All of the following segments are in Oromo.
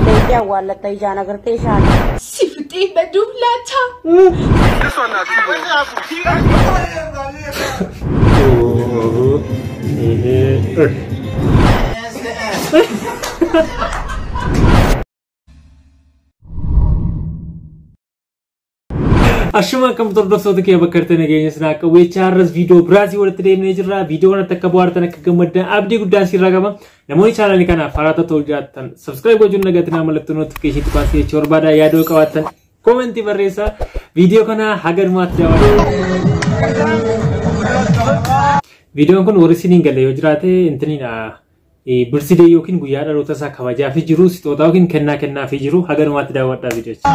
Beektee awwaallatta ijaan agartee shaana. Si fixee baduuf laata? Ashuma akkam hordoftoota kee bakka jirtan nageenya sinaa akka weechaa har'as viidiyoo biraasii walitti deemnee jirra. Viidiyoo kanatti akka bohaartan akka gammaddan abdii guddaan siirraa qaba. Namoonni chaanaalii kanaaf haaraa ta'uu jiraattan sabskiraayib gochuun nagaatti naa mallattoo notifikashinii tuqaa si jechuu barbaada yaadoo qabaattan koomentii barreessaa viidiyoo kana haga dhumaatti daawwadhaa. Viidiyoon kun warri isiniin galee yoo jiraate intiniidha. birthday yookiin guyyaa dhaloota isaa kabajaafii jiru sixootaa yookiin kennaa kennaafii jiru haga dhumaatti daawwadhaa viidiyocha.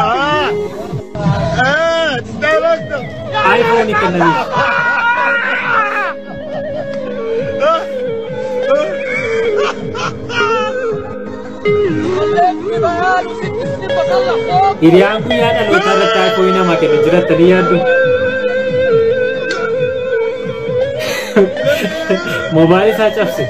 Aayifoonii kennaniif. Hiriyaan guyyaa dhalootaa irratti aayifoonii namaa kenna jirattanii yaaddu. Moobaayilii isaa cabse.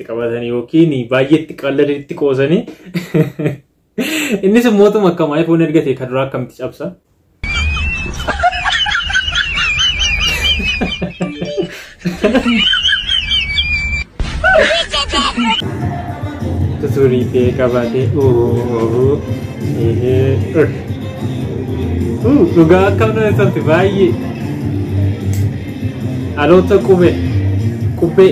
qabatan yookiin baay'eetti qalladatti qoosanii innis mootuma akkam iPhone erga ta'e kan duraa akkamitti cabsa. Tuturii ta'e qabaatee ooo eehee dhugaa akkam nama tolti baay'ee dhaloota qubee qubee.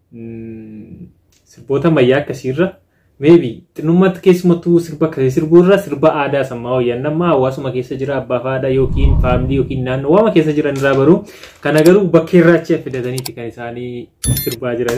sirboota ammayyaa akkasiirra meebi xinnummaatti keessumattuu sirba akkasii sirbuurra sirba aadaa sammaa wayyan amma hawaasuma keessa jira abbaa fi haadha yookiin faamilii yookiin naannoo waama keessa jiran irraa baru kana garuu bakkee irraa achi fidataniiti kan isaanii sirbaa jiran.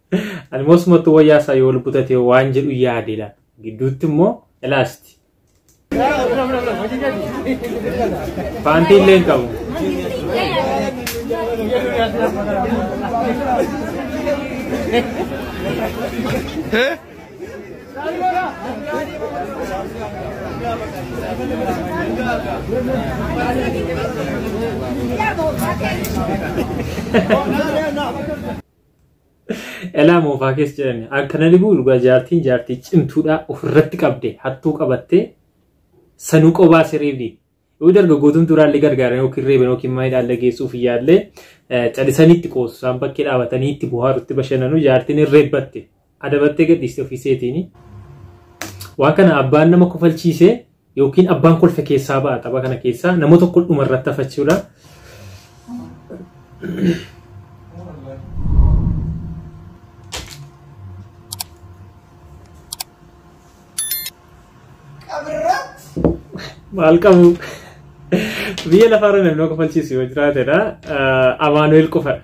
Ani moosumattuu wayyaa isaa yoo lubbu tatee waan jedhu yaade laata. Gidduutti immoo ilaasti. Paantii illee hin qabu. Elaa moofaa keessa jedhani. Akka na dhibuu dhugaa jaartiin jaartii cimtuudhaa ofirratti qabde hattuu qabattee sanuu qobaa siriibdi. Yoo dargaggootuun duraallee gargaaran yookiin reeban yookiin maayidhaallee geessuuf iyyaallee calisaniitti qoosu isaan bakkee dhaabatanii itti buhaarutti bashannanu jaartiin hin reebbatte. Adabattee gadhiiste ofii seetiini. Waan kana abbaan nama kofalchiise yookiin abbaan kolfe keessaa ba'a tapha kana keessaa nama tokko dhuma irratti hafachuudha. Maal qabu? Biyya lafaarra namni kofalchiisu yoo jiraatedha. Amaanu'eel qofadha.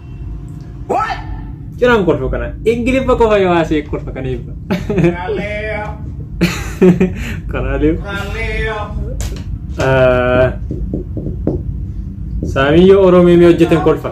What? Ciraan kolfa kana. Ingiliffa qofa yoo haasee kolfa kana eebba. Galileo. Karaalee. Galileo. Saamii yoo Oromoo mee hojjetan kolfa.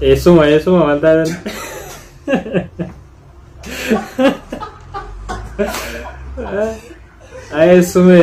Eessuma eessuma maal taatan? Eessume.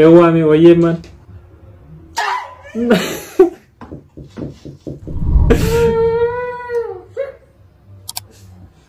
Eewwaami wayyeen man.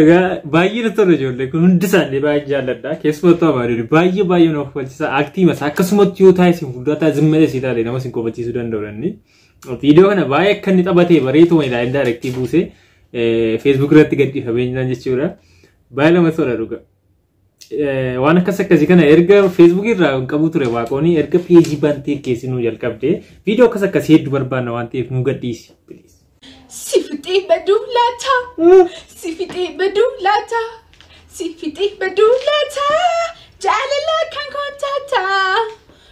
Egaa baay'ee na tola ijoollee kun hundi isaanii baay'ee jaalladha. Keessumattuu amaaduu baay'ee baay'ee na kofalchiisa. Aktiima isaa akkasumatti yoo taa'e isin fuulduraa taa'e zimma dheessi taa'e nama isin kofachiisuu danda'u dandeenye. Viidiyoo kana baay'ee akka inni taphatee bareetu wayii laayin daayirektii buusee feesbuuk irratti gadhiifamee jiraan jechuudha. Baay'ee namatti tola dhugaa. Waan akkas akkasii kana erga feesbuukii irraa hin qabu ture waaqooni erga peejii bantee keessi nu jalqabde viidiyoo akkas akkasii hedduu barbaanna waan ta'eef nu gadhiisi. Si fixee baduu laata? Si fixee baduu laata? Si fixee baduu laata? Jaalalaa kan kootaata.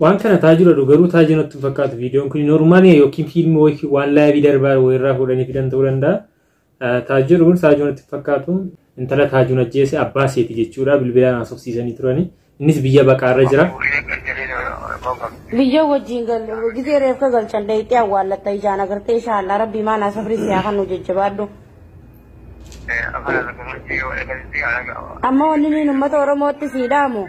Waan kana taa jira du garuu taa jiru natti hin fakkaatu viidiyoon kun normaaliya yookiin fiilmi wayii waan laayivii darbaa wayirraa fuudhanii fidan ta'uu danda'a. Taa jiru kun taa jiru natti hin fakkaatu intala taa jiru ajjeese abbaa seeti jechuudha bilbilaan haasofsiisanii turani innis biyya baqaarra jira. Biyya wajjin galu gisee reefka galchan dayxee awwaallatta ijaan agartee inshaallah rabbii maanaa sabrii siyaa kan nu jajjabaadhu. Amma wanni nuyi uummata Oromootti siidhaamu.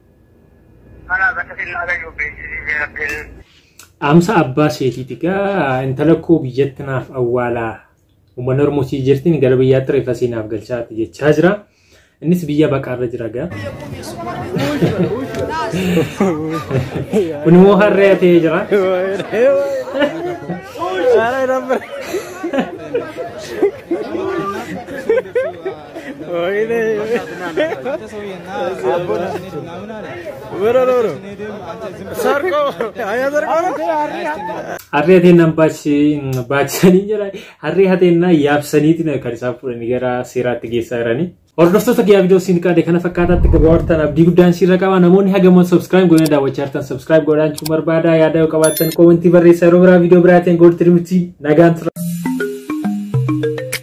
Kanaaf akka sinnaa gayyuu beeksisiisee rabbiin. Dhaamsa abbaa seetiiti gaa intala koo biyyatti naaf awwaalaa uummanni Oromoo sii jirtiin gara biyyaatti reeffa sii naaf galchaati jechaa jira. Innis biyya baqaarra jira gaa. Kun immoo harree ta'ee jira. Ara, era Harree hateenyaan baachisanii jira. Harree hateenyaa yaabsaniiti kan isaan fuudhanii gara seeraatti geessaa jiranii. Hordoftoota guyyaa viidiyoo siin qaade kana fakkaataatti gabaabaan abdii guddaan siirra qaba. Namoonni hagaman subscribe godhanii daawwachaa jirtan subscribe godhaa jechuun barbaada. Yaada yoo qabaattan koomentii barreessaa yeroo biraa viidiyoo biraatiin gooltirmitti nagaan tura.